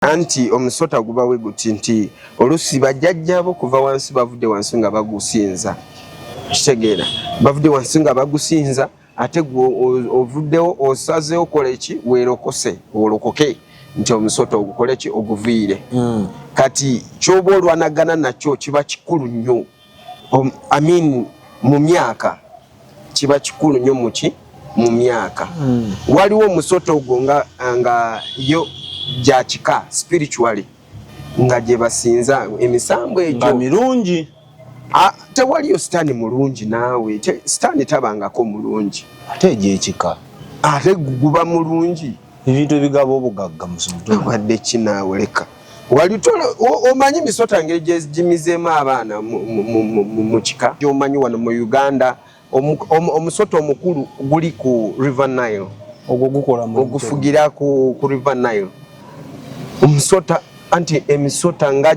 anti omusota gubawe guti nti olusi bajjajjabo kuva wansi bavudde wansi nga bagusinza kitegeera bavudde wansi nga bagusinza ate gwe ovuddewo osazeewo kola eki werokose olokoke nti omusota ogukole ki oguviire hmm. kati kyoba olwanagana nakyo kiba kikulu nnyo mm. um, I mean, mu myaka kiba kikulu nyo muki mu myaka mm. waliwo omusota ogwo nga, nga yo gyakika spiritually nga gyebasinza emisambo egyo mirungi ah, tewaliyo sitaani mulungi naawe sitaani tabangako mulungi ate egyekika ate guba mulungi ebintu ebigaba obugagga musumtu wadde kinaawe leka walitola omanyi misota ngeri gyegimizeemu abaana mu kika gyomanyi wano mu uganda omusota omukulu guli ku river nile ogwo gukola ogufugira ku river nile omusota anti emisota nga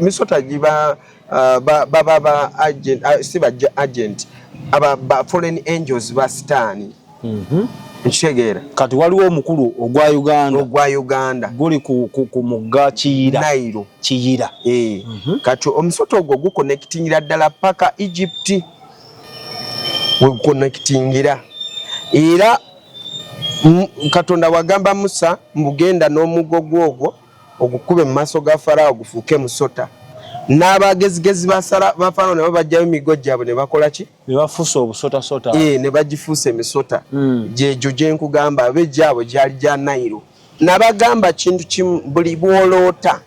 misota giba uh, baba ba, ba, ba agent uh, si ba agent aba ba foreign angels ba sitani mm -hmm. nkitegeera kati waliwo omukulu ogwa uganda ogwa uganda guli ku, ku, ku mugga kiyira nairo kiyira e. mm -hmm. kati omusota ogwo gukonekitingira ddala paka egypt wegukonekitingira era katonda wagamba musa mbugenda n'omugo gwogwo ogukube mu maaso ga Faraawo gufuuke musota. N'abagezigezi ba Faraawo nabo baggyayo emiggo gyabwe ne bakola ki? Ne bafuusa obusotasota. Ee, ne bagifuusa emisota. Hmm. Gyegyo gye nkugamba abe gyabwe gyali gya Nayiro. Nabagamba kintu kimu, buli bw'oloota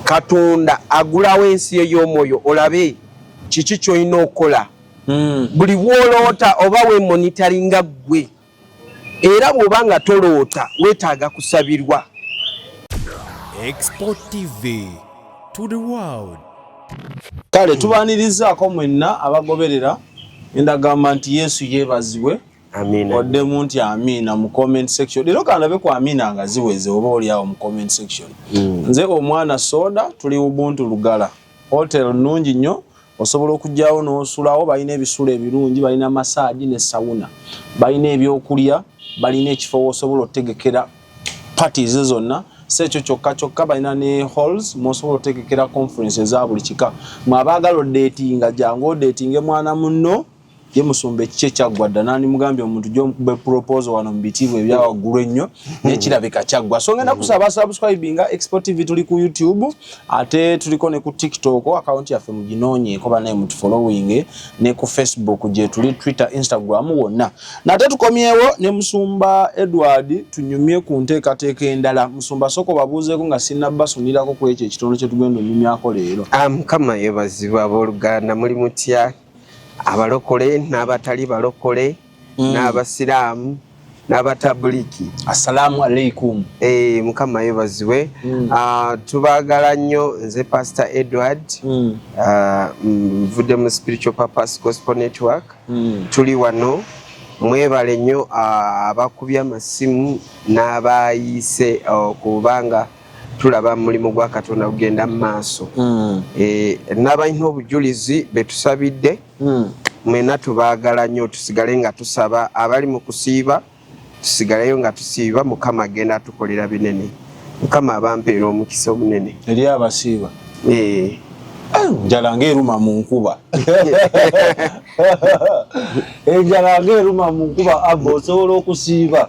Katonda agulawo ensi ey'omwoyo olabe kiki ky'olina okukola. Hmm. Buli bw'oloota oba weemonitaringa ggwe. era bw'oba nga toloota weetaaga kusabirwa export tv to the world kale tubanirizaako mwenna abagoberera endagamba nti yesu yeebazibwe oddemu nti amiina mu comment section leero kandabe ku amiina nga ziweze oba oliawo mu comment section hmm. nze omwana soda tuli ubuntu lugala hotel nungi nnyo osobola okugyawo n'osulawo balina ebisulo ebirungi balina masaagi ne sawuna balina ebyokulya balina ekifo wosobola otegekera parties zonna si ekyo kyokka kyokka balina ne halls mwosobola otegekera conference eza buli kika mwe abaagala odeetinga jangu odeetinge mwana munno ye musumba ekiki ekyaggwa dda nandimugambye omuntu gyobe proposal wano mu bitiibwa ebyawaggulu ennyo naye hmm. kirabika kyaggwa so ngenda hmm. kusaba subscribinga export tv tuli ku youtube ate tuliko ne ku tiktok akawunti yaffe muginoonyeeko banaye mutufollowing ne ku facebook gyetuli twitter instagram wonna nate tukomyewo ne musumba edward tunyumye ku nteekateeka endala musumba soko babuuzeeko nga sinabbasunirako ku ekyo ekitondo kyetugenda onyumyako leero ah, mukama yebazibu abooluganda muli mutya abalokole n'abatali balokole mm. n'abasiraamu n'abatabuliki assalamu alaikum e, mukama yebazibwe mm. uh, tubagala nnyo nze pastor edward mm. uh, nvudde mu spiritual purpose gospel network mm. tuli wano mwebale nnyo abakubye amasimu n'abayiise okubanga uh, tulaba mulimu gwa katonda gugenda mu maaso hmm. eh, n'abalina obujulizi betusabidde hmm. mwena tubaagala nnyo tusigale nga tusaba abali mu kusiiba tusigaleyo nga tusiiba mukama agenda atukolera binene mukama abampeera omukisa omunene eri abasiiba eh. njala ngaeruma mu nkuba enjala ngaeruma mu nkuba aba osobola okusiiba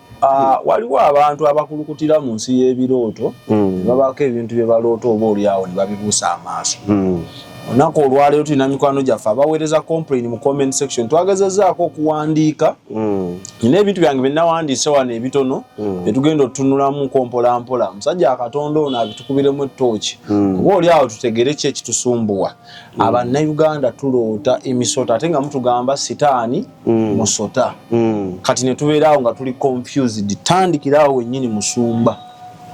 Ah, waliwo abantu abakulukutira mu nsi y'ebirooto hmm. babaako ebintu bye baloota oba olyawo ne babibuusa amaaso hmm. olunaku olwaleero tulina mikwano gyaffe abaweereza complain mu comment section twagezezaako okuwandiika hmm. nina ebintu byange byenawandiise wano ebitono byetugenda otutunulamuko mpolampola omusajja akatonda ono abitukubiremu ettooki oba oli awo tutegere ki ekitusumbuwa abannayuganda tuloota emisota ate nga mutugamba sitaani mm. musota mm. kati netubeeraawo nga tuli confused tandikiraawo wenyini musumba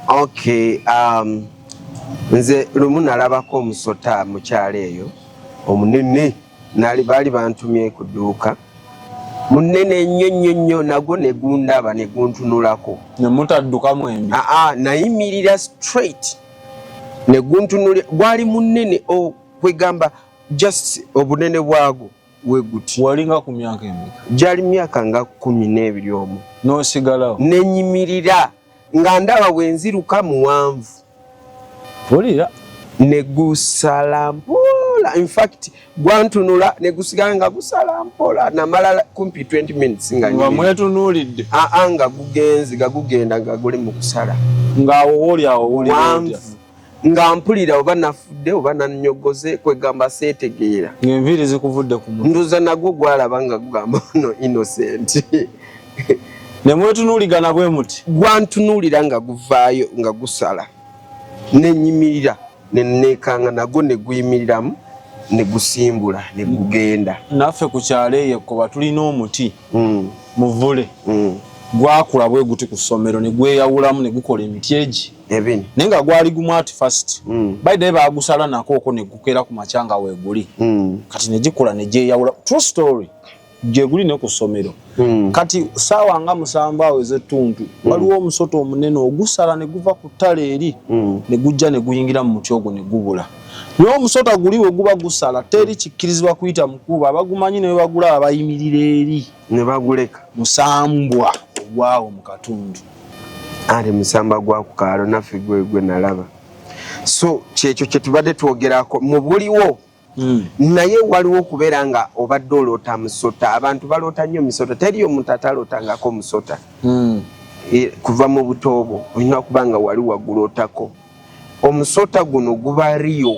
okay um, nze lumu nalabako omusota mukyalo eyo omunene nali baali bantumye ku dduuka munene nnyo nnyo nnyo nagwo negundaba neguntunulako nemutaddukamu embi aa nayimirira straight neguntunuli gwali munene okwegamba oh, just obunene bwagwo weguti walinga ku myaka emeka gyali myaka nga kumi n'ebiri omu n'osigalawo nenyimirira nga ndaba bwenziruka muwanvu wulira negusala mpola infact gwantunula negusigala nga gusala mpola namala kumpi 20 minutes nga mwetunulidde aa nga gugenzi gagugenda nga guli mu kusala ngaawo woli awo woli wanvu nga mpulira oba nafudde oba nanyogoze kwegamba seetegeera ngaenviiri zikuvudde ku mutwe nduza nagwo gwalaba nga gugamba no innocent ne mwetunuuligana bwe muti gwantunuulira nga guvaayo nga gusala nenyimirira neneekanga nagwo ne guyimiriramu ne gusimbula ne gugenda naffe ku kyalo eyo ekkoba tulina omuti mm. muvule mm. gwakula bwe guti ku ssomero ne gweyawulamu ne gukola emiti egi Ebin. Naye nga gwali gumu at first. Mm. By the way baagusala nako oko ne gukera ku machanga we guli. Mm. Kati ne gikula ne je yawula. True story. Je guli ne ku somero. Mm. Kati sawa nga musamba aweze tuntu. Mm. Waliwo omusoto omunene ogusala ne guva ku tale eri. Mm. Ne gujja ne guyingira mu muti ogwo ne gubula. Nyo omusota guli we guba gusala teri kikirizibwa kuyita mukuba abagumanyi ne bagula abayimirira eri ne baguleka musambwa ogwawo mu katundu. ali musamba gwa ku kaalo naffe gwe gwe nalaba so kyekyo kye tubadde twogerako mu buliwo hmm. naye waliwo okubeera nga obadde oloota musota abantu baloota nnyo musota teri omuntu atalootangako musota hmm. e, kuva mu butoobo olina okuba nga wali wagulootako omusota guno guba riyo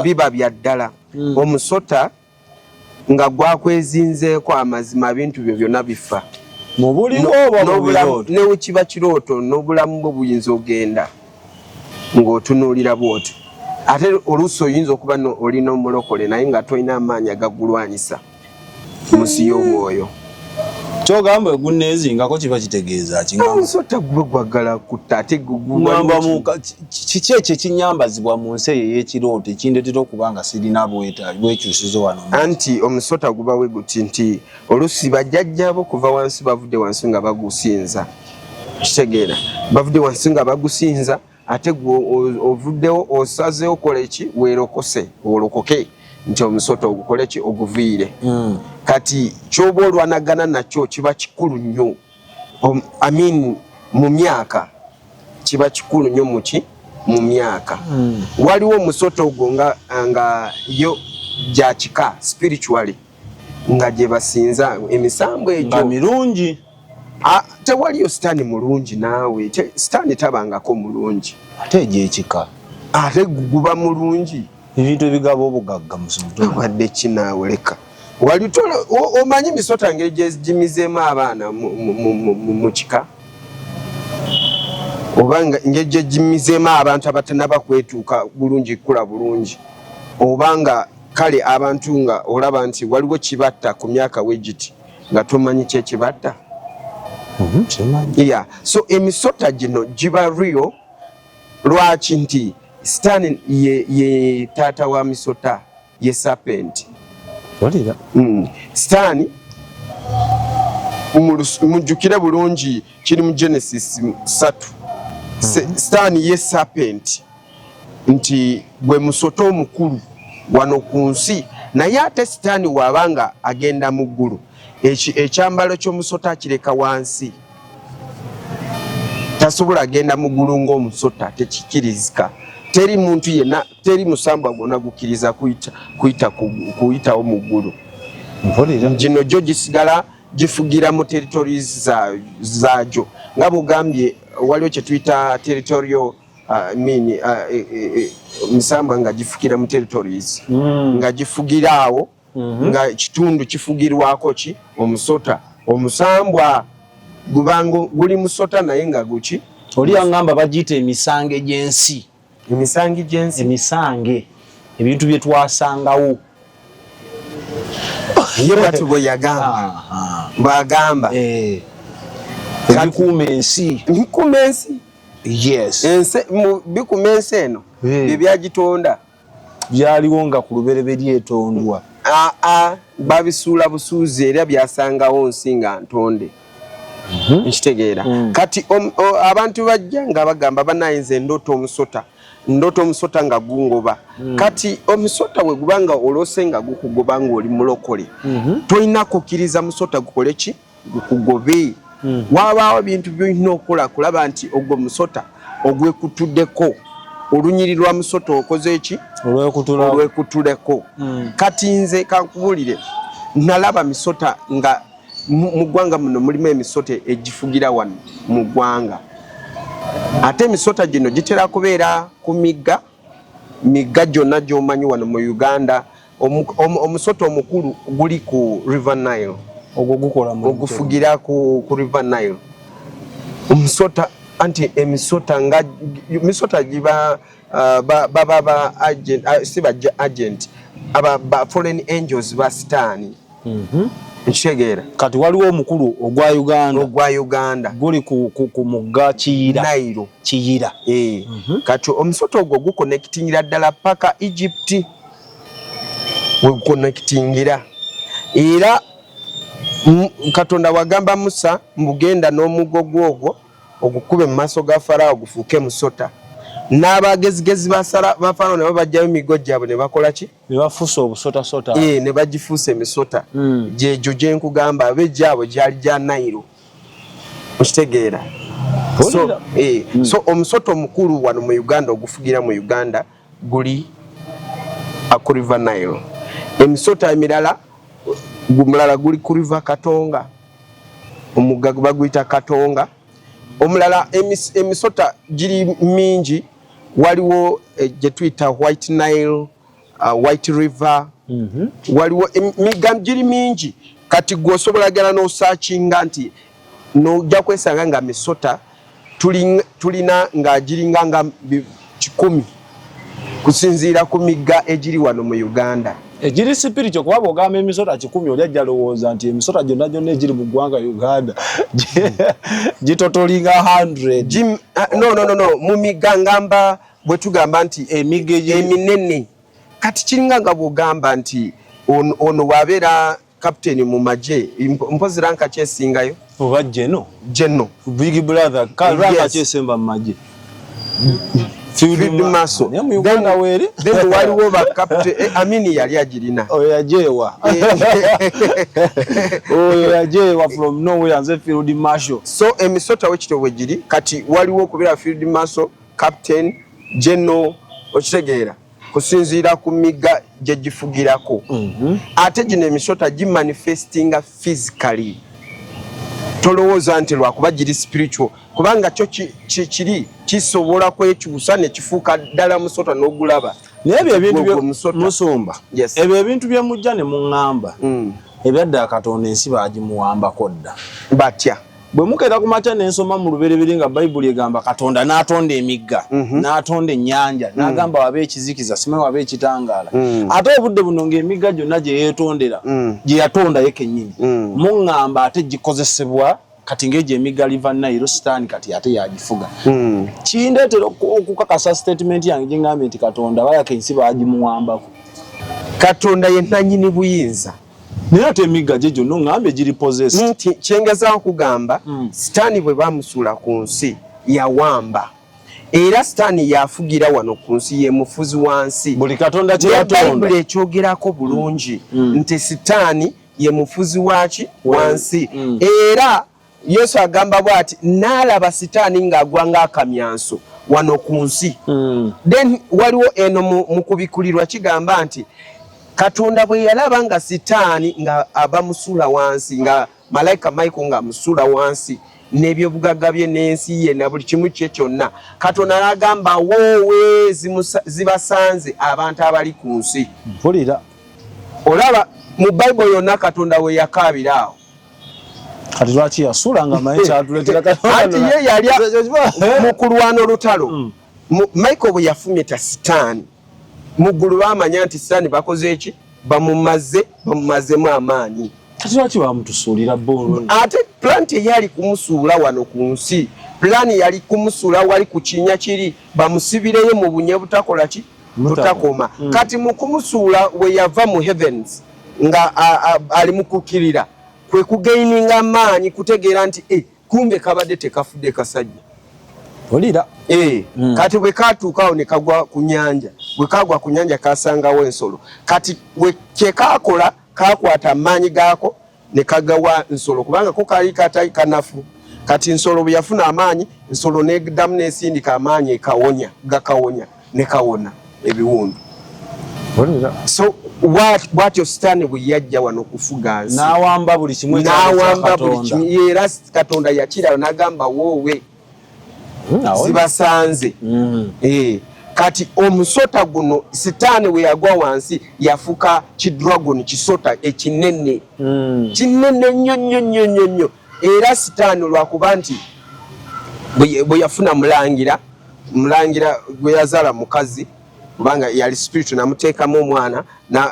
biba bya ddala hmm. omusota nga gwakwezinzeeko amazima bintu byo byonna bifa newekiba kirooto n'obulamu bwo buyinza ogenda ng'otunuulira bwoti ate oluusi oyinza okuba olina omulokole naye nga tolina amaanyi agagulwanyisa munsi y'omwoyo kyogamba egunneezingako kiba kitegeeza kimusota gwe gwagala kutta ate gamba muka kiki ekyo ekinyambazibwa mu nsi eyo ey'ekirooto ekindeetera okuba nga sirina bwekyusizo wano anti omusota guba we guti nti oluusi bajjajjabo kuva wansi bavudde wansi nga bagusinza kitegeera bavudde wansi nga bagusinza ate gwe ovuddewo osazeewo kola eki werokose olokoke nti omusota ogukole ki oguviire hmm. kati kyoba olwanagana nakyo kiba kikulu nnyo amin mu myaka kiba kikulu nnyo muki mu myaka hmm. waliwo omusota ogwo nga nga yo gyakika spiritually nga gyebasinza emisambu egyo mirungi Ah, tewaliyo sitaani mulungi naawe sitaani tabangako mulungi ate egyekika ate guba mulungi ebintu ebigaba obugagga muwadde kinaawe leka wali omanyi misota ngeri gyegimizeemu abaana mu kika oba ngeri gyegimizeemu abantu abatanaba kwetuuka bulungi kukula bulungi oba nga kale abantu nga olaba nti waliwo kibatta ku myaka wegiti nga tomanyi kyekibadda mhm, ya so emisota gino giba rio lwaki nti sitaani ye, ye taata wa misota ye sapenti mm. sitaani mujjukire bulungi kiri mu genesis satu mm. sitaani ye sapenti nti gwe musota omukulu wano ku nsi naye ate sitaani waaba nga agenda mu ggulu ekyambalo ky'omusota akireka wansi tasobola agenda mu ggulu ng'omusota tekikirizika teri muntu yena teri musambwa gwona gukkiriza kuyitawo mu ggulu gino gyo gisigala gifugira mu territories zagyo nga bugambye waliwo kyetuyita territorial Ah, mini ah, eh, eh, eh, misambwa nga gifukira mu territories mm. nga gifugira awo mm -hmm. nga kitundu kifugirwako ki omusota omusambwa gubanga guli musota naye nga guki oli yangamba bagiyita emisange gy'ensi emisange gy'ensi emisange ebintu bye twasangawo ye bwati bwe yagamba ah, ah. bwagamba ebikuuma ensi ebikuuma ensi bikuma ensi eno byebyagitonda byaliwo nga ku lubereberye etondwa aa babisuula busuuzi era byasangawo nsi nga ntonde mhm. nkitegeera mm. kati abantu bajja nga bagamba banayinza endoota omusota ndoota omusota nga gungoba mm. kati omusota wegubanga olose nga gukugoba ngaoli mulokole mhm. tolina kukiriza musota gukole ki gukugobe hmm. wabaawo bintu byolina okola kulaba nti ogwo musota ogwekutudeko olunyiri lwa musota okoze eki olwekutuleko hmm. kati nze kankubulire nalaba misota nga mu ggwanga muno mulimu emisota egifugira wano mu ggwanga ate emisota gino gitera kubeera ku migga migga gyonna gyomanyi wano mu uganda Omusota omukulu guli ku River Nile. Ogwo gukola mu ogufugira ku ku River Nile. Omusota anti emisota nga misota giba uh, ba ba ba, ba agent uh, si ba agent aba ba foreign angels ba sitani. Mhm. Mm Nshegera. Kati waliwo omukulu ogwa Uganda. Ogwa Uganda. Guli ku ku, ku mugga Kiyira. Nairo. Kiyira. Eh. Mm -hmm. Kati omusota ogwo gukonektingira ddala paka Egypt. wegukonekitingira era katonda wagamba musa mbugenda n'omugo gwogwo ogukube mu maaso ga farawo gufuuke musota n'abagezigezi ba farawo nabo bajjayo emigo gyabwe ne bakola ki nebafuusa obusotasota e, ne bagifuusa emisota hmm. gyegyo gye nkugamba aba egyabwe gyali gya nairo okitegeera so, e, hmm. so omusota omukulu wano mu uganda ogufugira mu uganda guli ku river nile emisota emirala gumulala guli ku river katonga omugga baguyita katonga omulala emis, emisota giri mingi waliwo eh, gyetuyita white nile uh, white river mm -hmm. waliwo emigga giri mingi kati gwosobola gala nosakinga nti nojja kwesanga nga misota tulina nga giringa nga kikumi kusinziira ku migga egiri wano mu uganda egiri sipirito kuba bwogamba emisota kikumi oli ajja lowooza nti emisota gyonna gyonna egiri mu ggwanga uganda gitotolinga 100 ah, no, no, no, no. mu migga ngamba bwe tugamba nti emigga eminene kati kiringa nga bwogamba nti ono wabeera captain mu magye mpozi ranka kyesingayo oba jeno jeno big brother ka ranka yes. kyesemba mu magye maso then waliwo ba captain eh, amini yali agirina oyo yajeewa oyo yajeewa from nowhere nze field marshal so emisota wekityo bwe giri kati waliwo okubeera field marshal captain jeno okitegeera kusinziira ku migga gye gifugirako mhm. ate gino emisota gimanifestinga physically tolowooza nti lwakuba giri spiritual kubanga kyo kiri kisobola kwekyusa nekifuuka ddala musota n'ogulaba naye ebyo ebintu musumba ebyo ebintu bye mujja ne muŋŋamba mm. ebyadda katonda ensi baagimuwambako dda batya bwe mukeera ku makya ne nsoma mu lubereberye nga bayibuli egamba katonda n'atonda emigga mhm. n'atonda ennyanja mm. n'agamba waba ekizikiza simanyi waba ekitangaala mm. ate obudde buno ng'emigga gyonna gye yeetondera mm. gye yatondayo kennyini muŋŋamba ate gikozesebwa kati ng'egyo emigga liva nayiro sitaani kati ate yagifuga kindeetera okukakasa sitatimenti yange gye ŋŋambye nti katonda bayaka ensi baagimuwambako katonda ye nnannyini buyinza naye ate emigga gye gyonna ongamba egiri possessed kyengeza okugamba mm. sitaani bwe bamusuula ku nsi yawamba era sitaani yafugira wano ku nsi ye mufuzi wa nsi buli katonda kyeyatonda ekyogerako bulungi mm. mm. nti sitaani ye mufuzi waki wansi mm. era Yesu agamba bwati nalaba sitaani ng'agwa ng'akamyanso wano ku nsi mm. then waliwo eno mu kubikulirwa kigamba nti katonda bwe yalaba nga sitaani nga aba musula wansi nga malaika michael nga musula wansi n'ebyobugagga bye n'ensi ye na buli kimu kye kyonna katonda n'agamba woowe zibasanze abantu abali ku nsi mpulira olaba mu bayibuli yonna katonda we yakaabira awo kati lwaki yasula nga maye kyatuletera kati ye yali mu kulwana olutalo mm. michael bwe yafumita sitaani mu ggulu bamanya nti sitaani bakoze eki bamumaze bamumazemu amaanyi kati lwaki bamutusuulira bo ate plant eyali kumusuula wano ku nsi pulaani yali kumusula wali ku kinya kiri bamusibireyo mu bunye butakola ki lutakoma mm. kati mukumusuula weyava mu heavens nga ali mukukirira kwe kugaininga maanyi kutegeera nti e kumbe kabadde tekafudde kasajja olira e, mm. kati bwekatuukawo nekagwa ku nyanja bwekagwa ku nyanja kasangawo ensolo kati kyekakola kakwata amaanyi gaako ne kagawa nsolo kubanga ko kaali katali kanafu kati nsolo bwe yafuna amaanyi nsolo nedamu nesindika amaanyi ekawonya gakawonya ne kawona ebiwundu so bwatyo sitaani bwe yajja wano okufuga nsinawamba buli kimu era katonda yakiraba nagamba woowe hmm, zibasanze hmm. eh, kati omusota guno sitaani we yagwa wansi yafuka kidragon kisota ekinene hmm. kinene nnyo nnyo nnyo nnyo nnyo era sitaani lwakuba nti bwe yafuna mulangira mulangira gwe yazaala mukazi kubanga yali spiritu namuteekamu omwana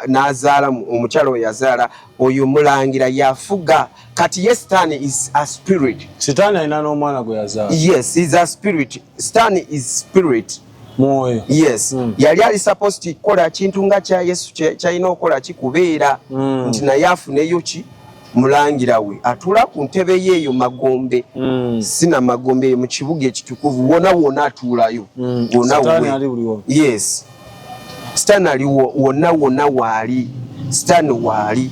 n'azaala omukyala oyo yazaala oyo mulangira yafuga kati ye sitaani is a spirit sitaani alina n'omwana gwe yazaala yes is a spirit sitaani is spirit mwoyo yes mm. yali ali supposed kukola kintu nga kya yesu kyalina okukola kikubeera mm. nti naye afuneyo ki mulangira we atula ku ntebe ye eyo magombe mm. sina magombe eyo mu kibuga ekitukuvu wona wona atuulayo mm. wona yes sitaani ali wonna wonna waali sitaani waali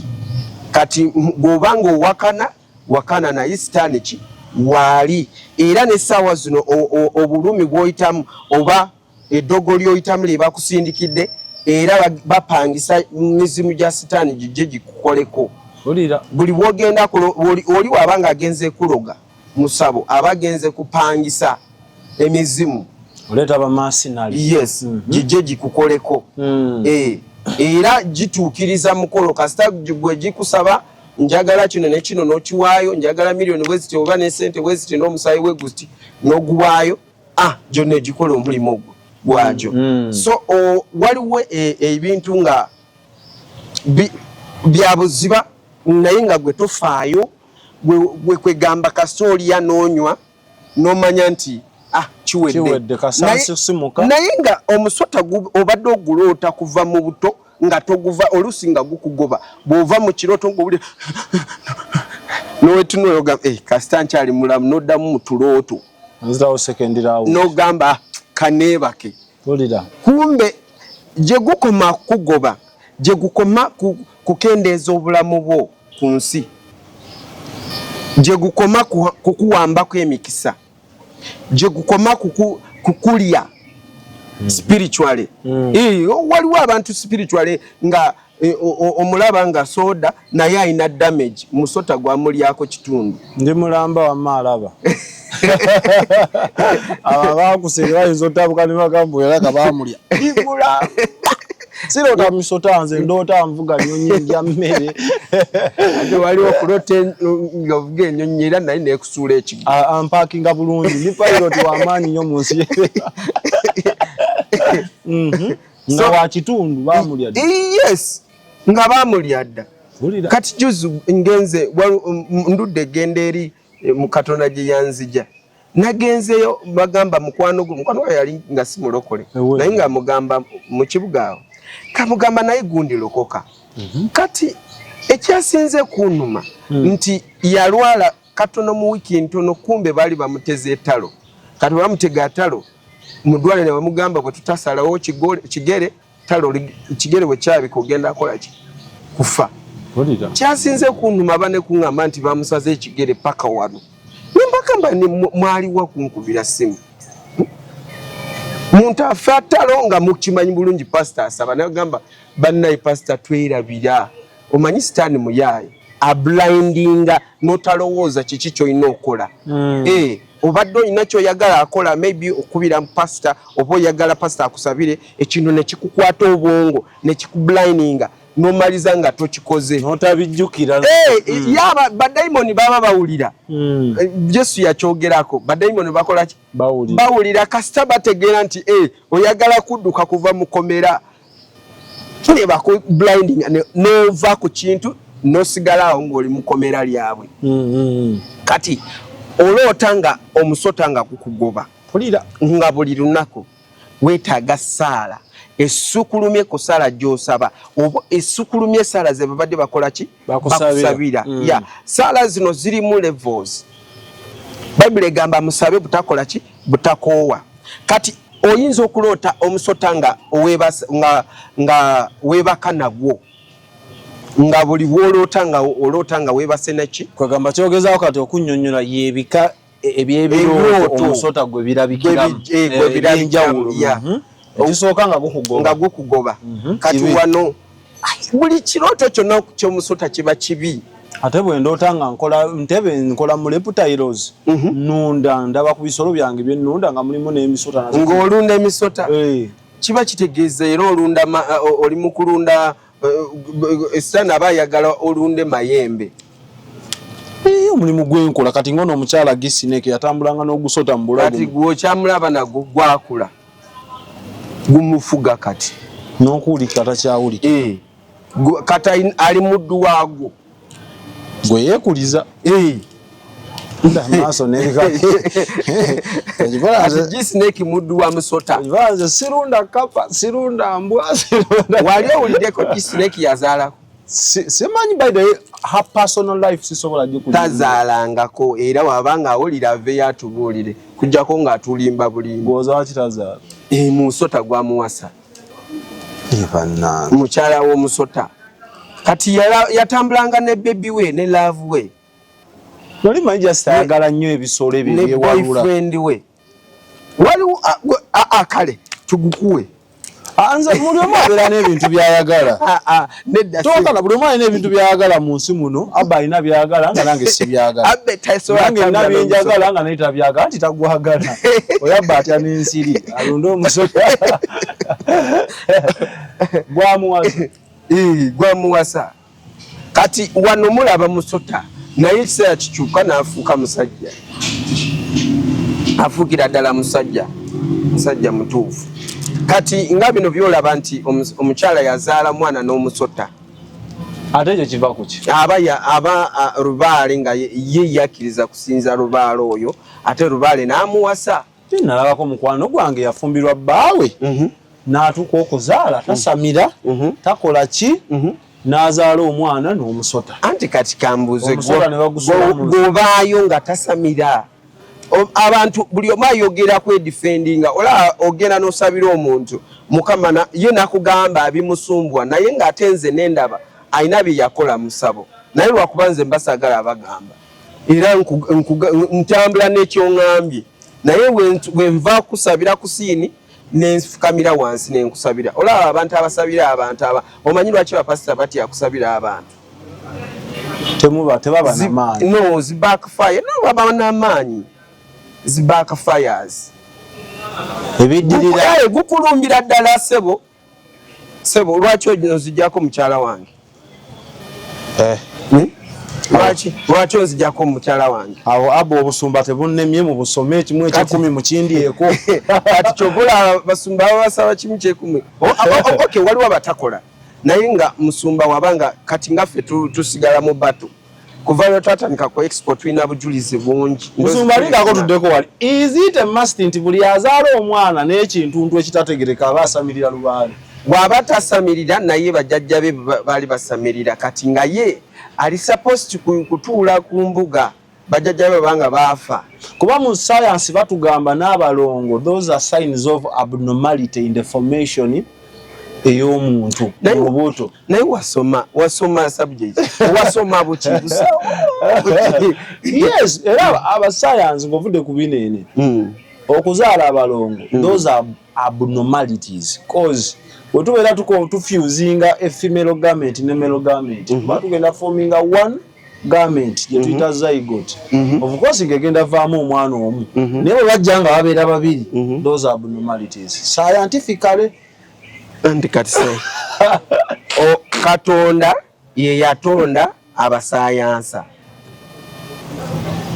kati bw'oba nga owakana wakana naye sitaani ki waali era n'essaawa zino obulumi bw'oyitamu oba eddogo ly'oyitamu lye bakusindikidde era bapangisa mizimu gya sitaani gijje gikukoleko buli wogenda oli waba nga agenze kuloga musabo aba agenze kupangisa emizimu oleeta bamasinali yes mm -hmm. gijje gikukoleko mm. e, era gituukiriza mukolo kasita gwe gikusaba njagala kino ne kino n'okiwaayo njagala miliyoni bwe ziti oba ne sente bwe ziti n'omusaayi we guti n'oguwaayo ah gyonna egikola omulimu ogwo gwagyo mm. so waliwo e, ebintu nga byabuziba naye nga gwe tofaayo gwe kwegamba kasita oliya noonywa nomanya nti ah kiwedde naye nga omusota obadde oguloota kuva mu buto nga toguva oluusi nga gukugoba bw'ova mu kirooto ngaobuli nowetunoyoga eh, kasita nkyali mulamu noddamu mu tulooto nzirawo second round nogamba kanebake tulira kumbe gye gukoma kugoba gye gukoma kukendeeza obulamu bwo ku nsi gye gukoma kukuwambako emikisa gye gukoma kukulya hmm. spiritually hmm. waliwo abantu spiritually nga Eh, omulaba nga soda naye alina damage musota gwamulyako kitundu ndi mulamba wama alaba abo abakusenge bayinza otabuka ne bagamba era nga bamulya sirota musota nze ndoota nvuga nyonyi ndya mmere ate wali okulota nga ovuga enyonyi era naye nekusuula ekigo ampakinga bulungi ndi pilot wamaanyi nyo mu nsi mhm. nga so, wa kitundu bamulya dda yes nga bamulya dda kati juzi ngenze um, ndudde egenda eri eh, mu katonda gye yanzija nagenzeyo bagamba mukwano gwe mukwano gwe yali nga si mulokole naye nga mugamba mu kibuga awo kamugamba naye gundi lokoka mhm. kati ekyasinze kunuma hmm. nti yalwala katono mu wiki ntono kumbe bali bamuteze etalo kati bamutega atalo mudwale ne bamugamba bwe tutasalawo kigere talo kigere bwe kyabi kugenda akola ki kufa kyasinze kunuma bane kungamba nti bamusaze ekigere paka wano nembagamba ni mwali wa kunkubira simu muntu afe atalo nga mukimanyi bulungi pasita asaba nagamba bannaye pasita twerabira omanyi sitaani muyaaye ablindinga notalowooza kiki kyolina okola mm. eh, obadde olina kyoyagala akola maybe okubira pasita oba oyagala pasita akusabire ekintu nekikukwata obwongo nekikublininga nomaliza nga tokikoze notabijjukira eh, mm. yaba badayimoni baba bawulira mm. eh, yesu yakyogerako badayimoni bakolaki bawulira kasita bategeera nti oyagala kudduka kuva mukomera tuli baku blinding nova ku kintu nosigala awo ng'oli mukomera lyabwe mm-hmm. kati oloota nga omusota nga kukugoba pulira nga buli lunaku wetaaga saala esukulumye ku saala gyosaba oba esukulumye esaala zebabadde bakola ki bakusabira mm. ya saala zino zirimu levels bayibuli egamba musabe butakola ki butakoowa kati oyinza okuloota omusota nga weebaka nagwo nga buli bwoloota nga oloota nga weebase naki kwegamba kyogezaako kati okunyonyola yebika e, ebyebirooto omusota gwe birabikiramu ebyenjawulo mhm. ekisooka nga gukugoba nga gukugoba mhm. kati wano buli kirooto kyonna kyomusota kiba kibi ate bwendoota nga nkola ntebe nkola mu reptiles mhm. nunda ndaba ku bisolo byange byenunda nga mulimu n'emisota ng'olunda emisota eh. kiba kitegeeza era olunda oli mu kulunda esitaani aba ayagala olunde mayembe omulimu gwenkola kati ngono omukyala gisineke yatambulanga n'ogusota mu bulago kati gwokyamulaba nago gwakula gumufuga kati nokuwulika takyawulika eh, kati ali muddu waagwo gwe yekuliza eh. maaso nebikajisineki muddu wa musota nze sirunda kapa sirunda mbwa wali owuliddeko jisineki yazaalako simanyi by the her personal life sisobola gikutazaalangako era wabanga awulira aveyo atubuulire kujjako ng'atulimba bulimba ozaakitazaala eh, musota gwamuwasa mukyala w'omusota kati yatambulanga ne bebi we ne laavu we noli manyi just ayagala nnyo ebisolo ebyo byewalulaboyfriend we waliwo akale tugukuwe anze muli omu abeera n'ebintu byayagala nedda tokala buli mwana n'ebintu byagala mu nsi muno abba alina byagala nga nange sibyagalanange nabyenjagala nga naye tabyagala nti tagwagala oyo abba atya n'ensiri alonde omusoka gwamuwasa gwamuwasa kati wano mulaba musota naye ekiseera kikyuka n'afuuka musajja afuukira ddala musajja musajja mutuufu kati nga bino byolaba nti omukyala yazaala omwana n'omusota ate ekyo kiva kuki aba aba lubaale nga ye yakkiriza kusinza lubaale oyo ate lubaale n'amuwasa Ye nalabako mukwano gwange yafumbirwa bbaawe mhm. n'atuuka okuzaala mhm. tasamira mhm. takola ki n'azaala omwana n'omusota anti kati kambuuze gwobaayo nga tasamira abantu buli omu ayogera kwedifendinga olaba ogenda n'osabira omuntu mukama ye nakugamba abimusumbwa naye ng'ate nze nendaba alina bye yakola musabo naye lwakuba nze mbasagala abagamba era ntambula nekyoŋambye naye wenva kusabira kusiini nenfukamira wansi nenkusabira olaba abantu abasabira abantu aba omanyi lwaki bapasita batya kusabira abantu no zibakfire no baba namaanyi zibakfires ebiddirira gukulumbira ddala sebo Sebo lwaki ozijako mukyala wange? Eh. Hmm? Lwaki lwaki ozijako mukyala wange? Awo abo obusumba tebunnemye mu busome ekimu ekyekumi mu kindi eko. Kati kyobola basumba basaba kimu kyekumi. Oh, oh, oh, okay, waliwo abatakola. Naye nga musumba wabanga kati ngaffe tusigala mu batu. Tu kuva lwe twatandika ku expo tulina bujulizi bungi musumba lindako tuddeko wali is it a must nti buli azaala omwana n'ekintuntu ekitategereka aba asamirira lubaale bw'aba tasamirira naye bajajja be baali basamirira kati nga ye ali supposed kutuula ku mbuga bajajja be banga baafa kuba mu sayansi batugamba n'abalongo those are signs of abnormality in the formation ey'omuntu olubuto naye wasoma wasoma subject wasoma buki yes era abasayansi ng'ovudde ku bineene hmm. okuzaala abalongo hmm. those are abnormalities cause wetubeera tuko tufusinga efemale garment ne male garment hmm. kuba tugenda forminga one mm. garment gye tuyita mhm. zygote mhm. of course ngegenda vaamu omwana omu mhm. naye bwe bajja nga babeera babiri those abnormalities scientifically anti kati se katonda ye yatonda abasayansa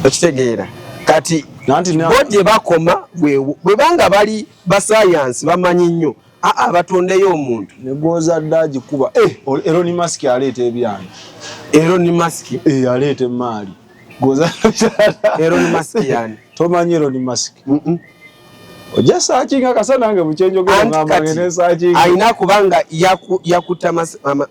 okitegeera kati bo gye bakoma bwebanga bali basayansi bamanyi nnyo aa batondeyo omuntu negwozadde agikuba eh, eroni mask aleeta ebyana eroni mask eh, aleeta emaali gwozaddeeroni mask yani tomanyi eroni mask ojja saakinga akasa nange mukyenjogerangambaenesaakinga alina kuba nga yakutta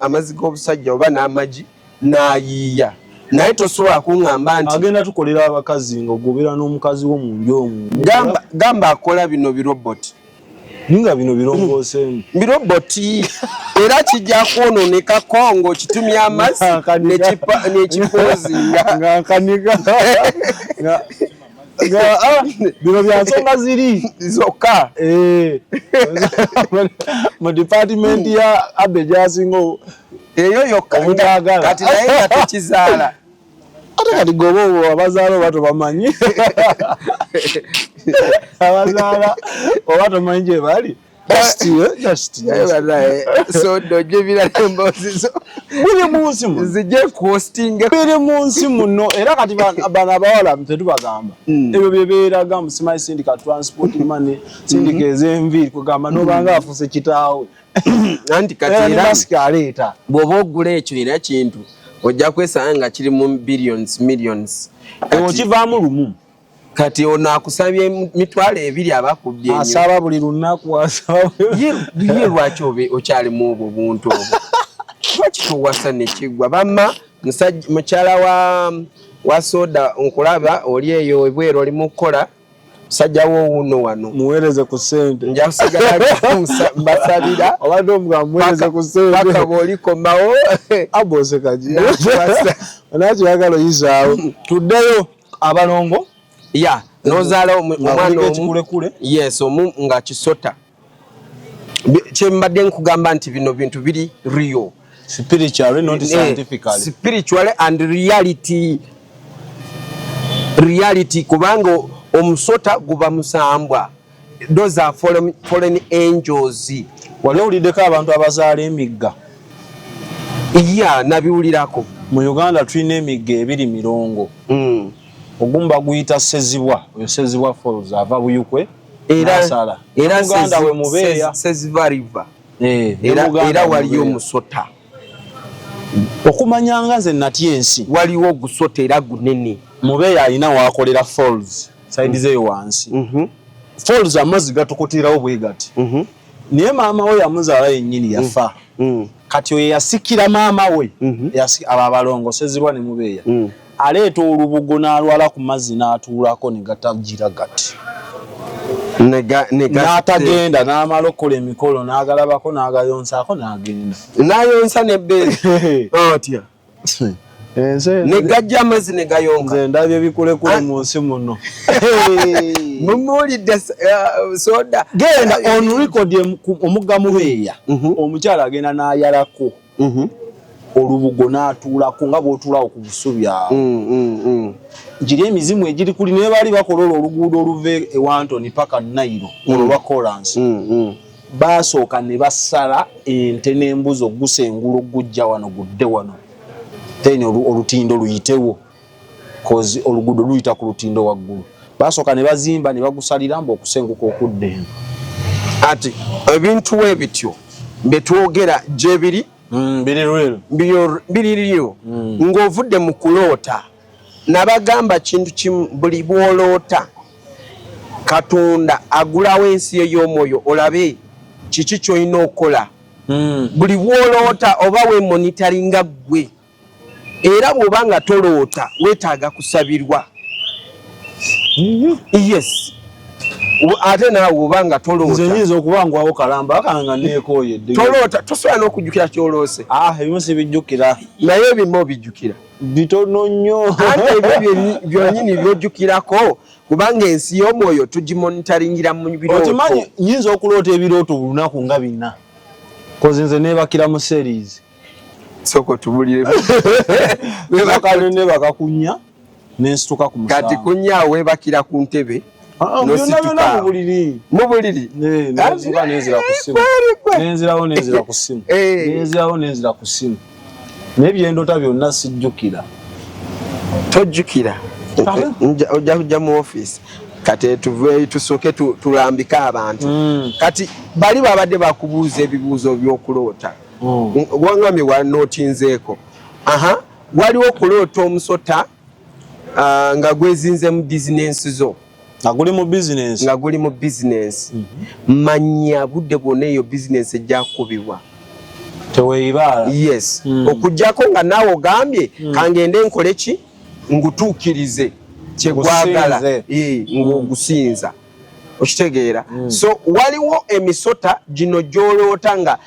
amazzi g'obusajja oba n'amagi n'ayiiya naye tosobola kuŋamba nti agenda tukolera abakazi nga ogobera n'omukazi wo mu nju omu gamba akola bino biroboti ninga bino birongooseemu biroboti era kijja kwononeka kongo kitumye amazzi nekipoozingankanika ah, bino byansonga ziri zokka eh. mu dipatimenti ya abe gyasinga eyo yokka kati naye nga tekizaala ate kati goba obo abazaala oba tobamanyi abazaala oba tomanyi gye bali biri munsi muno era kati bano abawala tetubagamba hmm. ebyo byebeeraga musimanyi sindika transport mane sindika hmm. ezenviiri kugamba nobanga afuse kitaawe anti katialeeta bwoba ogula ekyo era kintu ojja kwesanga nga kiri mu billions millions ewo kivaamu lumu kati ono akusabye mitwalo ebiri abakubbye asaba buli lunaku asabaye lwaki okyalimu obwo buntu obwo lwaki towasa nekigwa bamma mukyala wa wa soda nkulaba oli eyo ebweru oli mu kukola musajja wo wuuno wano muweereze ku ssente nja kusigala mbasabira obadde omuga muweereze ku sentepaka bw'olikomawo abosekajinakyo yagala oyizaawo tuddeyo abalongo ya nozaala omwana omu yes omu nga kisota kyembadde nkugamba nti bino bintu biri real spiritually not eh, scientifically spiritually and reality reality kubanga omusota guba musambwa those are foreign, foreign angels wali owuliddeko abantu abazaala emigga iya nabiwulirako mu uganda tulina emigga ebiri mirongo mm. ogumba guyita sezibwa oyo sezibwa falls ava buyukwe era sala era muganda we mubeya seziva river eh era era wali omusota okumanya nga ze nati ensi wali wo gusota era gunene mubeya alina wakolera falls side ze wansi mhm mm falls amazi gatukutira obwegati mhm mm naye maama we yamuzala yenyini yafa mm -hmm. Mm. kati oyo yasikira maama we mm -hmm. ababalongosezibwa ne mubeeya mm. aleeta olubugo n'alwala ku mazzi n'atuulako ne gatagira gati n'atagenda n'amala okukola emikolo n'agalabako n'agayonsaako n'agenda n'ayonsa nebbeere otya negajja amazzi negayonka nze ndabye ebikulekule ah. mu nsi muno mumuwulidde uh, soda genda on record omugga mubeeya mhm. omukyala agenda n'ayalako mm-hmm. olubugo n'atuulako nga bw'otuulawo ku busubi awo mm, mm, mm. giri emizimu egiri kuli naye baali bakola olwo oluguudo oluva e wantoni paka nairo olwo lwa kolansi baasooka ne basala ente n'embuzi okugusa engulu okugujja wano gudde wano then olutindo luyitewo kozi oluguudo luyita ku lutindo waggulu baasooka ne bazimba ne bagusalira mbu okusenguka okudda eno ati ebintu we bityo bye twogera gye biri mm, biriryo mm. ng'ovudde mu kuloota nabagamba kintu kimu buli bwoloota katonda agulawo ensi yo y'omwoyo olabe kiki kyolina okukola mm. buli bwoloota oba wemonitaringa ggwe era bwoba nga toloota wetaaga kusabirwa yes ate naawe oba nga tolootainza okuba ngwawo kalamba akanga nekoye toloota tosobola n'okujjukira kyoloose ah, ebimu sibijjukira naye ebimu obijjukira bitono nnyo ate ebyo byonyini byojjukirako kubanga ensi y'omwoyo tugimonitaringira mu birootokimanyi nyinza okuloota ebirooto bulunaku nga bina kozi nze nebakira mu series soko tubulire bebakalone bakakunya nensituka ku musango kati kunya webakira ku ntebe ah, ah, mubuliri mubuliri nenzira nenzira ku simu nenzirawo nenzira ku simu eh. nenzirawo nenzira ku simu naye byendota byonna sijjukira tojjukira ojja kujja mu ofiisi kati tuve tusooke tulambike abantu mm. kati bali babadde bakubuuza ebibuuzo byokuloota mm. wangambye wanotinzeeko aha waliwo okuloota omusota uh, nga gwezinze mu bizinensi zo nga guli mu bizinensi nga guli mu bizinensi mm -hmm. manya budde bwona eyo bizinensi ejjakubibwa teweyibaala yes mm. okujjako nga naawe ogambye mm. kangende nkole ki ngutuukirize kyegwagala eh, ng'ogusinza mm. okitegeera mm. so waliwo emisota gino gyoloota nga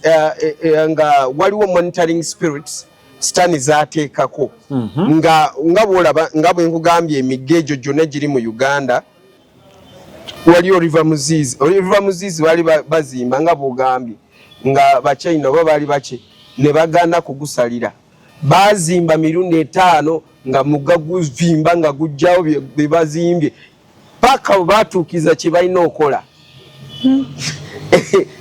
uh, eh, eh, nga waliwo monitoring spirits sitani zateekako mm -hmm. nga nga bwolaba nga bwenkugambye emigga egyo gyonna giri mu uganda waliyo river muzizi river muzizi baali bazimba nga bwogambye nga bachina oba baali baki ne bagana kugusalira bazimba mirundi etaano nga mugga guvimba nga gujjawo bebazimbye paka webatuukiza kyebalina okola hmm.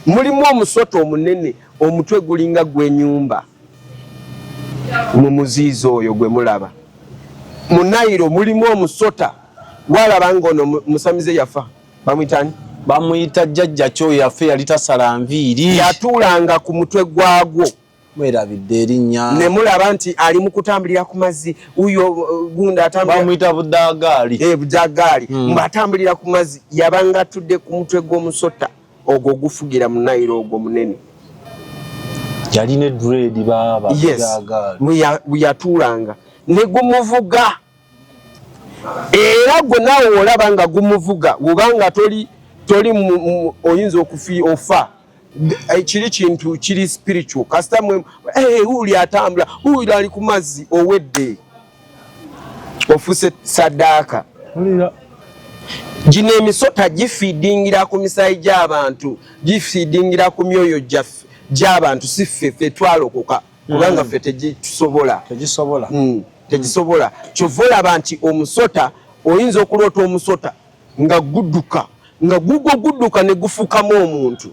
mulimu omusota omunene omutwe gulinga gwenyumba mu muziizi oyo gwe mulaba mu nairo mulimu omusota walaba nga ono musamize yafa bamwitani bamuyita jjajja kyo yafe yali tasala nviiri yatuulanga ku mutwe gwagwo mwerabidde erinnya ne mulaba nti ali mu kutambulira ku mazzi uyo uh, gunda atambulira budagaali eh, budagaali hmm. ng'atambulira ku mazzi yabanga atudde ku mutwe gw'omusota ogwo gufugira mu nayiro ogwo munene yalina eduredi baaba yes. yatuulanga ne gumuvuga era gwe naawe wolaba nga gumuvuga wobanga toli toli oyinza okufi ofa eh, kiri kintu kiri spiritual kasita mwe eh, uli atambula uli ali ku mazzi owedde ofuse sadaaka gino emisota gifiidingira ku misaayi gy'abantu gifiidingira ku myoyo gyaffe gy'abantu si ffe ffe twalokoka kubanga mm. ffe tegitusobola tegisobola mm. tegisobola kyova olaba nti omusota oyinza okuloota omusota nga guduka nga gugwo guduka ne gufukamu omuntu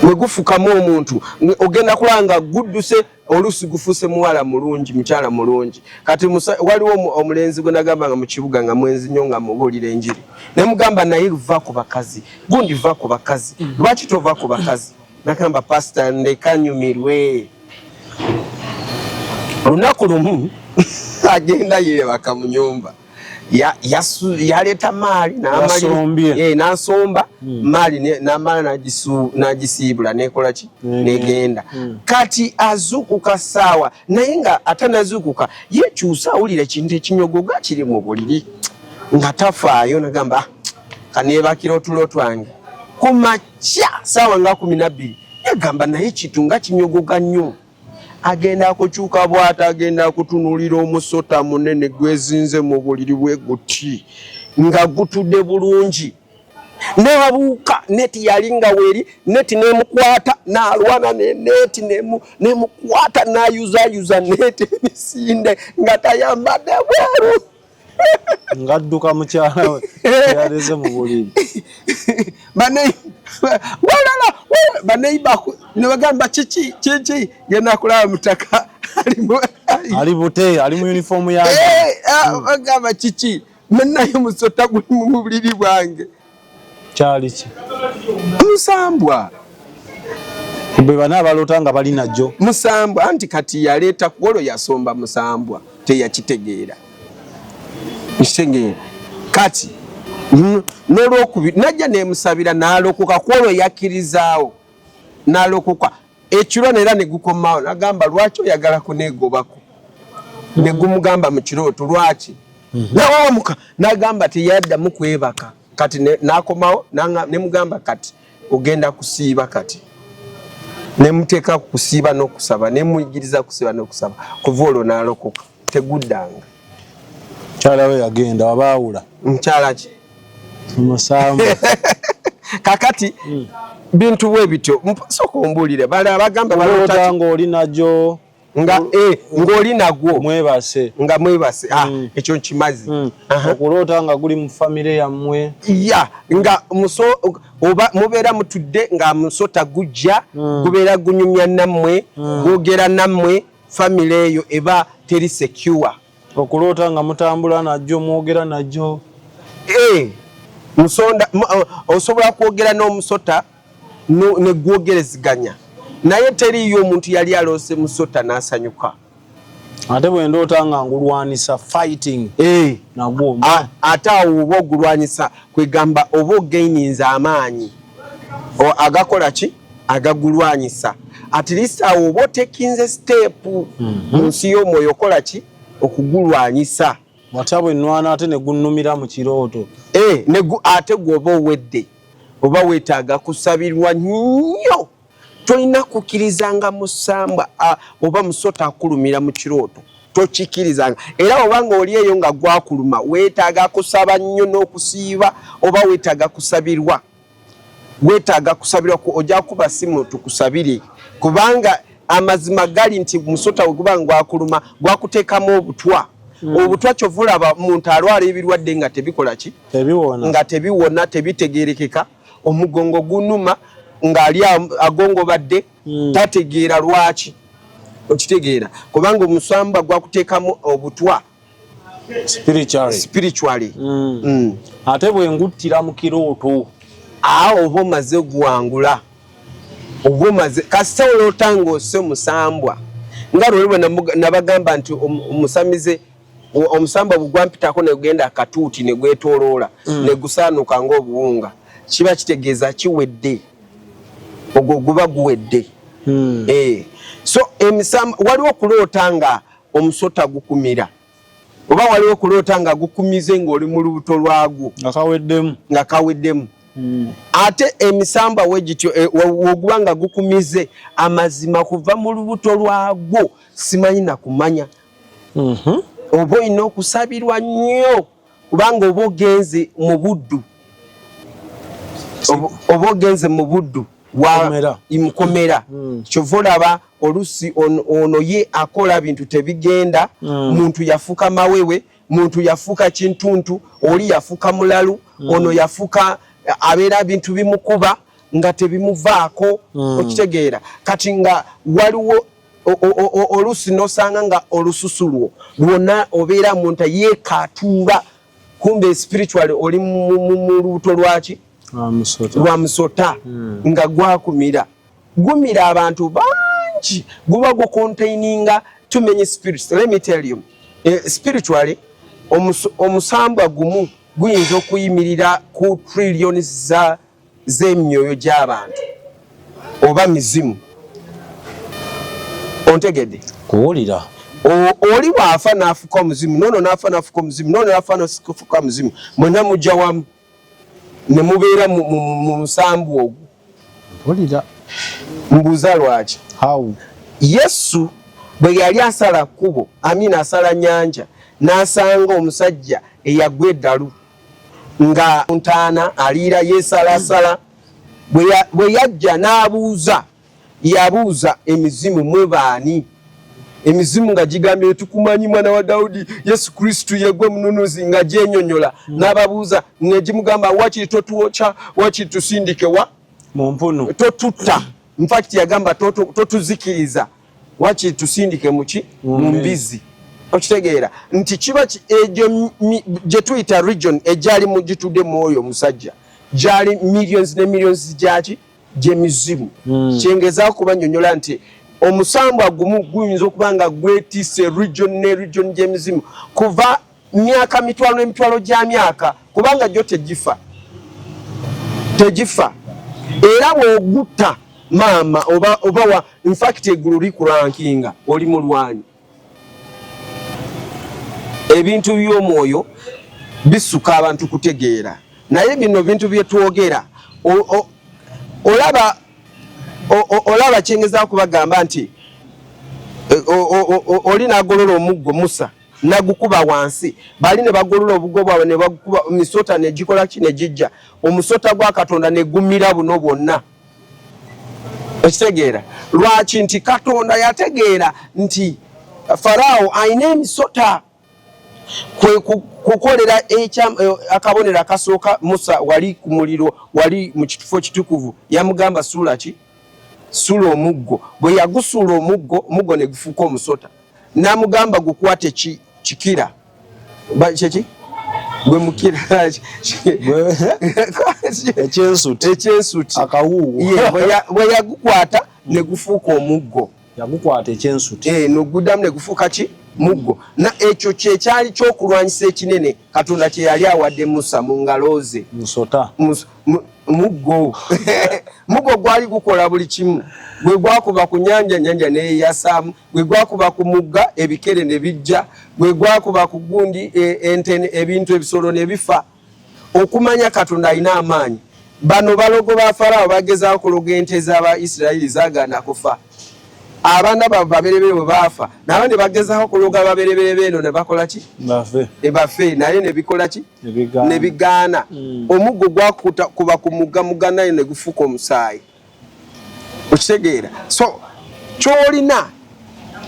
ne gufukamu omuntu ogenda kulaba nga gudduse oluusi gufuuse muwala mulungi mukyala mulungi kati waliwo omulenzi gwe nagamba nga mu kibuga nga mwenzi nnyo nga mubuulira enjiri ne mugamba naye va ku bakazi gundi va ku bakazi mm. lwaki tova ku bakazi nagamba pasita ndeka nyumirwe lunaku lumu agenda yebaka mu nyumba yaleeta maali eh, nasomba hmm. maali namala nagisiibula nekola ki hmm. negenda hmm. kati azuukuka saawa naye nga ate nazuukuka yekyusa awulira ekintu ekinyogoga kiri mu buliri nga tafaayo nagamba ah, kanebakira otulo twange kya saawa nga kumi nabbiri yagamba naye kintu nga kinyogoga nnyo agenda akukyuka bwata agenda akutunulira omusota munene gwezinze mu buliri bwe guti nga gutude bulungi nabuuka neti yali nga weri neti nemukwata nalwana neneti nemukwata nayuzayuza neti emisinde nga tayambade bweru ngadduka mukyala we yaleze mu buliri balala baneiba nebagamba kiki kiki genda kulaba mutaka ali bute ali mu uniform yagamba eh, ah, kiki menaye musota guli mu buliri bwange kyali ki musambwa bwe bana abalota nga bali najo musambwa anti kati yaleeta kuolo yasomba musambwa teyakitegeera kitegeera kati nolwokubiri najja nemusabira nalokoka kuolo yakkirizaawo nalokoka ekiro neera ne gukomawo nagamba lwaki oyagala kunegobako ne gumugamba mu kirooto lwaki mhm. nawamuka nagamba teyaddamu kwebaka kati nakomawo ne mugamba kati ogenda kusiiba kati ne muteeka ku kusiiba n'okusaba ne muyigiriza kusiiba n'okusaba kuva olwo n'alokoka teguddanga mukyala we yagenda wabaawula mukyala ki musamu kakati hmm. bintu bwe bityo sooka ombuulire bale abagamba balota ng'oli nagyo nga mm. eh, ng'oli nagwo mwebase nga mwebase ah, mm. ekyo nkimazi mm. okuloota nga guli mu famire yammwe ya nga muso oba mubeera mutudde nga musota gujja gubeera gunyumya nammwe gwogera nammwe family eyo eba teri secure okuloota nga mutambula najjo mwogera najjo eh, musonda osobola kwogera n'omusota negwogereziganya naye teriyo omuntu yali aloose musota n'asanyuka ate bwendoota nga ngulwanisa fighting eh. nagwo ate awo oba ogulwanyisa kwegamba oba ogaininza amaanyi agakola ki agagulwanyisa at least awo oba otekinze step mu mhm. nsi y'omwoyo okola ki okugulwanyisa watya bwe nnwana ate ne gunnumira mu kirooto eh, ate gwoba owedde oba weetaaga kusabirwa nnyo tolina kukkirizanga musambwa oba musota akulumira mu kirooto tokikkirizanga era obanga oli eyo nga gwakuluma weetaaga kusaba nnyo n'okusiiba oba weetaaga kusabirwa wetaaga kusabirwa ku oja kuba simu tukusabire kubanga amazima gali nti musota weguba ngwakuluma gwakutekamu obutwa mm. obutwa kyovulaba muntu alwala ebirwadde nga tebikola ki nga tebiwona tebitegerekeka omugongo gunuma ngaali agongobadde mm. tategeera lwaki okitegeera kubanga omusamba gwakutekamu obutwa spiritually spiritually mm. Mm. ate bwe nguttira mu kirooto awo oba omaze gwangula oba omaze kasita oloota ng'ose musambwa nga lwoli bwe nabagamba nti omusamize omusambwa bugwampitako negenda akatuuti ne gwetoloola mm. ne gusaanuka ng'obuwunga kiba kitegeeza kiwedde ogwo guba guwedde mm. e. so emisambwa waliwo okuloota nga omusota gukumira oba waliwo okuloota nga gukumize ng'oli mu lubuto lwagwo nga kaweddemu nga kaweddemu hmm. ate emisamba we gityo e, woguba nga gukumize amazima kuva mu lubuto lwagwo simanyi nakumanya mhm. oba olina okusabirwa nnyo kubanga oba ogenze mu buddu oba ogenze mu buddu mukomera hmm. kyova olaba olusi ono ye akola bintu tebigenda hmm. muntu yafuka mawewe muntu yafuka kintuntu oli yafuka mulalu hmm. ono yafuka abeera bintu bimukuba nga tebimuvaako okitegeera kati nga waliwo oluusi nosanga nga olususu lwo lwona obeera munta yekatuuba kumbe spiritual oli mu lubuto lwaki ah, lwa musota hmm. nga gwakumira gumira abantu bangi guba gucontaininga too many spirits let me tell you eh, spiritually omusambwa gumu guyinza okuyimirira ku trillions za z'emyoyo gy'abantu oba mizimu ontegedde kuwulira oli bw'afa n'afuka omuzimu noono n'afa n'afuka omuzimu noono n'afa n'afuka omuzimu mwena mujja wamu ne mubeera mu nsambu ogwo mpulira mbuuza lwaki how yesu bwe yali asala kkubo amina asala nyanja n'asanga omusajja eyagwa eddalu nga ntaana aliira yesalasala bwe yajja n'abuuza yabuuza emizimu mwebaani emizimu nga gigambye etukumanyi mwana wa dawudi yesu kristu yegwe mununuzi nga gyenyonyola hmm. n'ababuuza negimugamba wakiri totuwokya wakiri tusindikewa mumpunu totutta infact yagamba totuzikiriza wakiri tusindike muki mumbizi okitegeera nti kiba egyo gyetuyita region egyali mugitude mwoyo omusajja gyali millions ne millions gyaki gyemizimu hmm. kyengezako kubanyonyola nti omusambwa gumu guyinza okuba nga gwetise region ne region gyemizimu kuva myaka mitwalo n'emitwalo gya myaka kubanga gyo tegifa tegifa era bw'ogutta maama oba oba wa in fact eggulu likurankinga oli mulwanyi ebintu by'omwoyo bisuka abantu kutegeera naye bino bintu bye twogera olaba olaba kyengeza kubagamba nti oli nagolola omuggo musa nagukuba wansi bali ne bagolola obugo bwabwe ne bagukuba misota ne gikola ki ne gijja omusota gwa katonda ne gumira buno bwonna okitegeera lwaki nti katonda yategeera nti faraawo alina emisota kwe kukolera eh, akabonero akasooka musa wali ku muliro wali mu kitufo kitukuvu yamugamba suula ki suula omuggo bwe yagusuula omuggo omuggo ne gufuuka omusota namugamba gukwate ki kikira kyeki gwe mukira ekyensuti ekyensuti akawuuwo bwe yagukwata ne gufuuka omuggo yagukwata ekyensuti eh, noguddamu ne gufuuka ki muggo na ekyo kyekyali kyokulwanyisa ekinene katonda kye yali awadde musa mu ngalo ze musota muggo muggo gwali gukola buli kimu gwe gwakuba ku nyanja nyanja neyeyasaamu gwe gwakuba ku mugga ebikere ne bijja gwe gwakuba ku gundi e, ente ebintu ebisolo ne bifa okumanya katonda alina amaanyi bano balogo ba faraawo bagezaako kuloga ente z'aba isirairi zagaana kufa abaana babo baberebere bwe baafa nabo ne bagezaako kuloga baberebere beeno ne bakola ki ebafe eh, naye ne bikola ki ne bigaana hmm. omuggo gwakuba ku mugga muganayo ne gufuuka omusaayi okitegeera so kyolina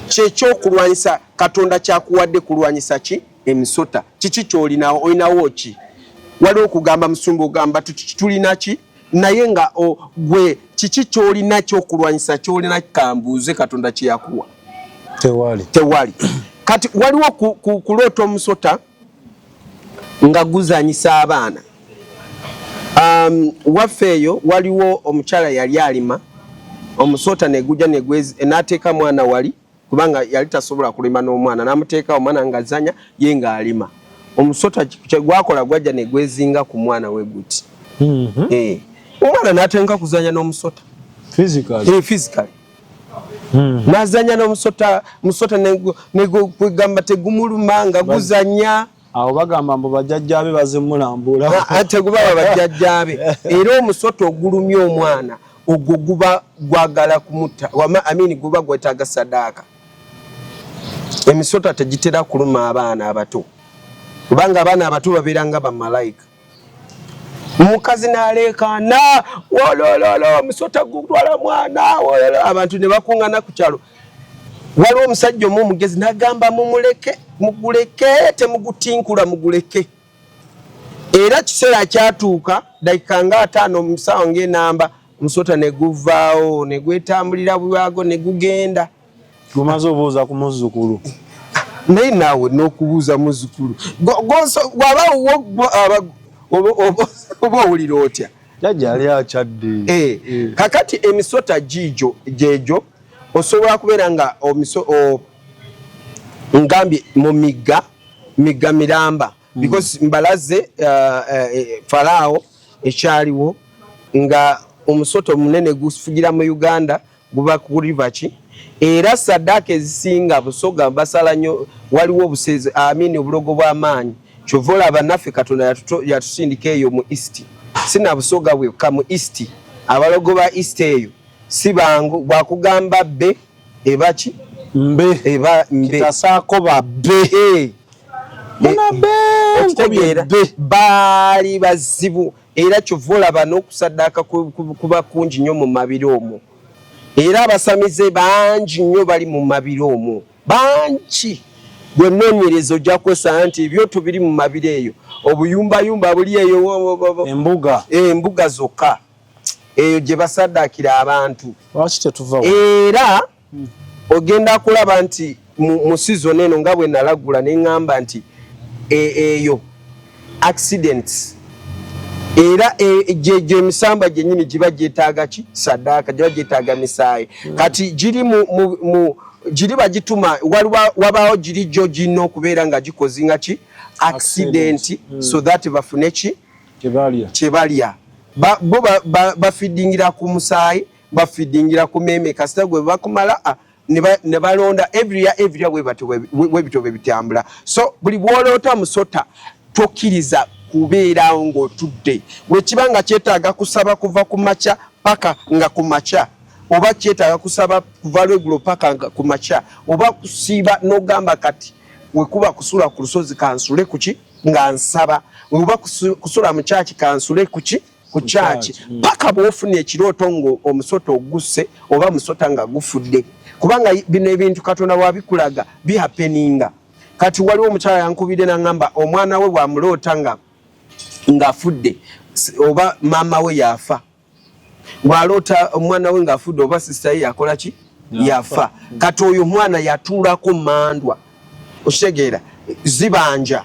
kyekyokulwanyisa katonda kyakuwadde kulwanyisa ki emisota kiki kyolinawo olinawo ki waliwo okugamba musumba ogamba tulina ki naye nga gwe kiki kyolina kyokulwanyisa kyolina kambuuze katonda kyeyakuwa tewali tewali kati waliwo kuloota omusota nga guzanyisa abaana um, waffe eyo waliwo omukyala yali alima omusota neguja nateeka mwana wali kubanga yali tasobola kulima n'omwana namuteeka omwana ngazanya ye ngaalima omusota kyegwakola gwajja negwezinga ku mwana we guti mm -hmm. eh. omwana natenka kuzanya n'omusota physically. Hey, eh, physically. Hmm. nazanya nomusota musota negamba tegumuluma nga guzanya awo bagamba mbu bajajjabe bazimulambula ah, ah, tegubaba bajajjabe era omusota ogulumya omwana ogwo guba gwagala kumutta amini guba gwetaga sadaaka emisota tegitera kuluma abaana abato kubanga abaana abato babeera nga bamalayika omukazi naleekaana wolololo omusota gutwala mwana wololo abantu ne bakuŋŋana ku kyalo waliwo omusajja omu omugezi nagamba mumuleke muguleke temugutinkula muguleke era kiseera kyatuuka dakika nga ataano omusawa ngaenamba omusota ne guvaawo ne gwetambulira bwago ne gugenda Gumaze obuuza ku muzzukulu. Naye naawe n'okubuuza muzzukulu waba oba owulira otya? Jajja yali akyadde. Eh, eh. Kakati emisota giijo gyejo osobola kubeera nga omiso ngambye mu migga migga miramba hmm. because mbalaze uh, eh, falaawo ekyaliwo nga omusota omunene gufugira mu Uganda guba kuriva ki era sadaka ezisinga busoga basala nyo waliwo obusezi amini obulogo bwa maanyi kyova olaba naffe katonda yatusindika eyo mu east sina busoga bwekka mu east abalogo ba east eyo si bangu bwakugamba bbe ebaki mbe eba mbe kitasaako babbe eh. muna bbe okitegeera baali bazibu era kyova olaba n'okusaddaaka kuba kungi nnyo mu mabiro omwo era abasamize bangi nnyo bali mu mabiro omwo bangi gwe noonyereza ojja kwesanga nti ebyoto biri mu mabiro eyo obuyumbayumba buli eyo embuga embuga zokka eyo gye basaddaakira abantu era ogenda kulaba nti mu season eno nga bwe nalagula ne ŋŋamba nti e, eyo accidents era e, gyegyo emisamba gyennyini giba gyetaaga ki saddaaka giba gyetaaga misaayi hmm. kati giri mu giri bagituma wabaawo giri gyo girina okubeera nga gikozinga ki accidenti hmm. so that bafune ki kyebalya bo bafidingira ku musaayi bafidingira ku meme kasita gwe bakumala ah, ne balonda every year every year webati webito bebitambula so buli bwolota musota tokiriza kubeera ng'otudde wekiba nga kyetaaga kusaba kuva ku makya paka nga ku makya oba kyetaaga kusaba kuva lwegulo paka nga ku makya oba kusiiba n'ogamba kati wekuba kusula ku lusozi kansule kuki nga nsaba oba kusula mu kyaki kansule kuki ku kyaki mm. paka bwofuna ekirooto nga omusota ogusse oba musota nga gufudde kubanga bino ebintu katonda wabikulaga bihapeninga kati waliwo omukyala yankubidde nangamba omwana we bwamuloota nga ngafudde oba maama we yafa bwaloota omwana we ngafudde oba sisita ye yakola ki yafa kati oyo omwana yatuulako mandwa okitegeera zibanja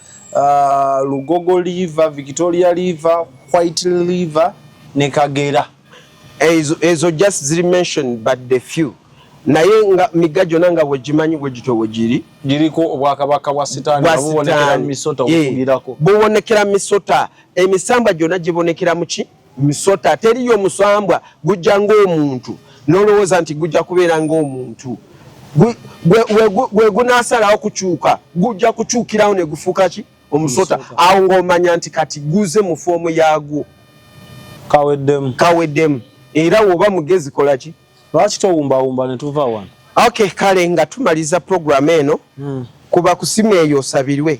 uh, lugogo liver victoria liver white liver ne kagera ezo, ezo just ziri mention but the few naye nga migga gyona nga wegimanyi wegityo wegiri giriko obwakabaka bwa sitaani bubonekera misota obugirako bubonekera misota emisambwa gyona gibonekera muki Misota teriyo musambwa gujja ng'omuntu nolowooza nti gujja kubeera ng'omuntu gwe gunasalawo kukyuka gujja kukyukirawo ne gufuuka ki omusota awo ng'omanya nti kati guze mu foomu yaagwo kaweddemu kaweddemu era woba mugezi kola ki lwaki towumbawumba ne tuva wano ok kale nga tumaliza puroguramu eno hmm. kuba kusima eyo osabirwe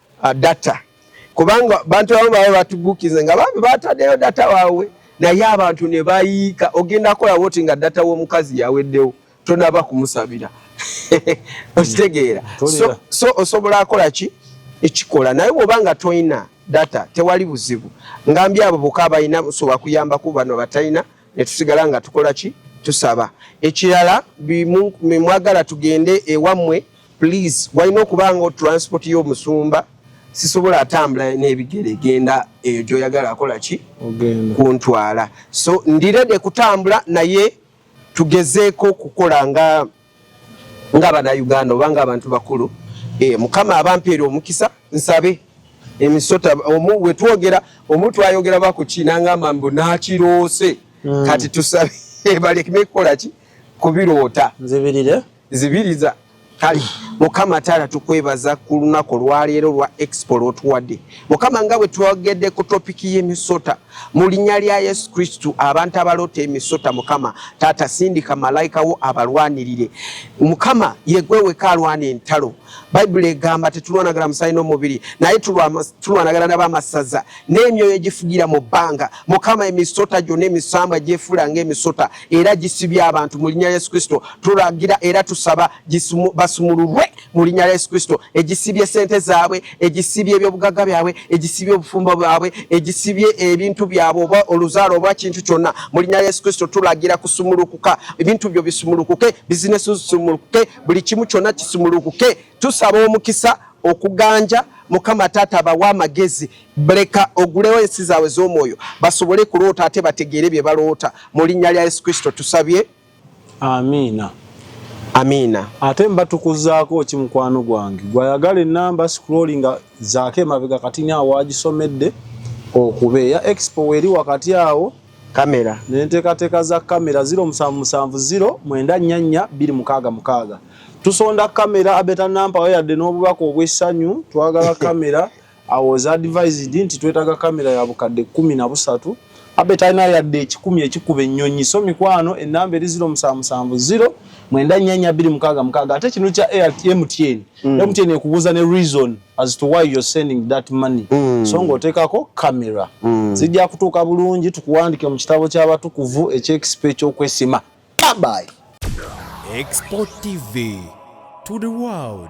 uh, data kubanga bantu abamu baba batubukize nga bambi batadeyo data wawe naye abantu ne bayiika ogenda kola woti nga data w'omukazi yaweddewo tonaba kumusabira okitegeera so, so osobola akola ki ekikola naye bwoba nga toyina data tewali buzibu ngambye abo boka abalina busobola kuyambaku bano batalina netusigala nga tukola ki tusaba ekirala mwagala tugende ewammwe please walina okuba nga transport y'omusumba sisobola atambula n'ebigere genda eyo gyoyagala akola ki kuntwala so ndirede kutambula naye tugezeeko okukola nga nga banauganda oba nga abantu bakulu e, mukama abampeera omukisa nsabe emisota omu wetwogera omu twayogera bakuki nangamba mbu nakiroose mm. kati tusabe balekime kukola ki kubiroota nzibirire zibiriza kale mukama taala tukwebaza ku lunaku olwaleero lwa expo lwotuwadde mukama nga bwe twogedde ku topiki y'emisota mu linnya lya yesu kristu abantu abaloota emisota mukama taata sindika malayika wo abalwanirire mukama yegweweka alwana entalo bayibuli egamba tetulwanagala musaayi n'omubiri naye tulwanagala nabamasaza n'emyoyo egifugira mu bbanga mukama emisota gyonna emisambwa gyefuula ngaemisota era gisibye abantu mu linnya lya Yesu Kristo. Tulagira era tusaba basumululwe mu linnya lya Yesu Kristo. Egisibye sente zaabwe, egisibye ebyobugagga byabwe, egisibye obufumbo bwabwe, egisibye ebintu byabwe oba oluzaalo oba kintu kyonna mu linnya lya Yesu Kristo tulagira kusumulukuka. Ebintu byo bisumulukuke, bizinesi zisumulukuke, buli kimu kyonna kisumulukuke. Tusaba omukisa okuganja mukama taata bawa amagezi Bleka ogulewo ensi zaabwe z'omwoyo basobole kuloota ate bategeere bye baloota mu linnya lya Yesu Kristo tusabye. Amiina. Amiina. Ate mbatukuzaako ki mukwano gwange gwayagala ennamba scrolling zaako emabega kati ni awaagisomedde okuba eya expo weeri wakati awo kamera nenteekateeka za kamera ziro musanvu musanvu ziro mwenda nnya nnya bbiri mukaaga mukaaga tusonda kamera abeta nampawo yadde n'obubaka obw'essanyu twagala kamera I was advised nti twetaga kamera ya bukadde kumi na busatu abe talina yadde ekikumi ekikuba ennyonyi so mikwano enamba eri ziro musanvu musanvu ziro mwenda nyanya biri mukaga mukaga ate kino kya MTN mm. MTN ekubuza ne reason as to why you're sending that money mm. so ngotekako kamera mm. zijja kutuuka bulungi tukuwandike mu kitabo ky'abatukuvu eky'ekisipa eky'okwesima bye Export TV to the world